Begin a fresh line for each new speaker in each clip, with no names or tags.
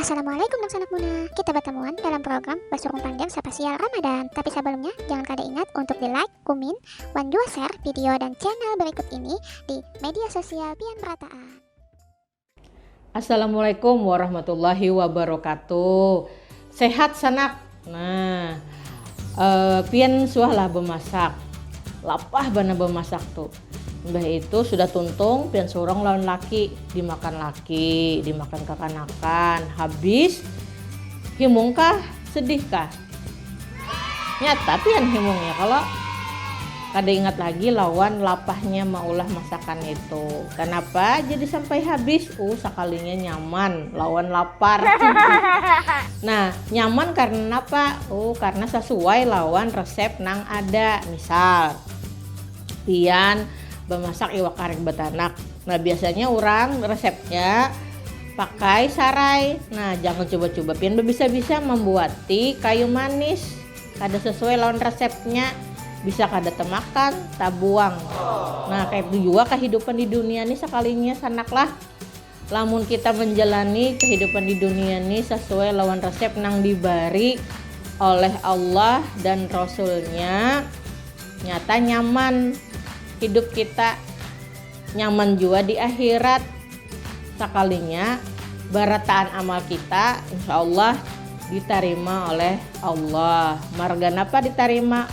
Assalamualaikum dangsanak Muna. Kita batamuan dalam program Basurung Panjang Sapasial Ramadan. Tapi sabalumnya, jangan kada ingat untuk di like, kumin, wan jua share video dan channel berikut ini di media sosial pian merataan. Assalamualaikum
warahmatullahi wabarakatuh. Sehat sanak. Nah, uh, pian suahlah bemasak. Lapah bana bemasak tuh. Mbah itu sudah tuntung, pian surong lawan laki. Dimakan laki, dimakan kakanakan. Habis, himungkah? Sedihkah? Nyata pian himungnya kalau kada ingat lagi lawan lapahnya maulah masakan itu. Kenapa jadi sampai habis? Uh, sekalinya nyaman lawan lapar. Nah, nyaman karena napa? Oh, karena sasuai lawan resep nang ada. Misal, pian bamasak iwak karing batanak. Nah, biasanya urang resepnya pakai sarai. Nah, jangan cuba-cuba pian babisa-bisa mambuati kayu manis. Kada sasuai lawan resepnya, bisa kada temakan, tabuang. Nah, kaya itu jua kahidupan di dunia ni sakalinya sanak lah. Lamun kita manjalani kahidupan di dunia ni sasuai lawan resep nang dibari oleh Allah dan Rasulnya, nyata nyaman hidup kita, nyaman jua di akhirat. Sakalinya barataan amal kita insya Allah ditarima oleh Allah. Marga napa ditarima?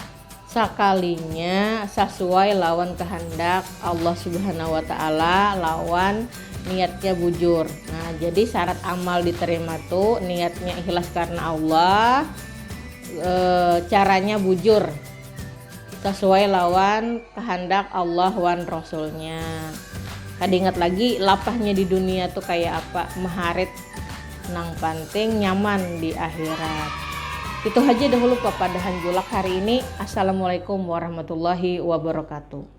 sakalinya sasuai lawan kahandak Allah Subhanahu wa taala lawan niatnya bujur. Nah, jadi syarat amal diterima tu niatnya ikhlas karena Allah, e, caranya bujur sesuai lawan kehendak Allah wan Rasulnya. Kada ingat lagi lapahnya di dunia tu kayak apa, maharit Nang panting nyaman di akhirat. Itu haja dahulu papadahan Julak hari ini. Assalamualaikum warahmatullahi wabarakatuh.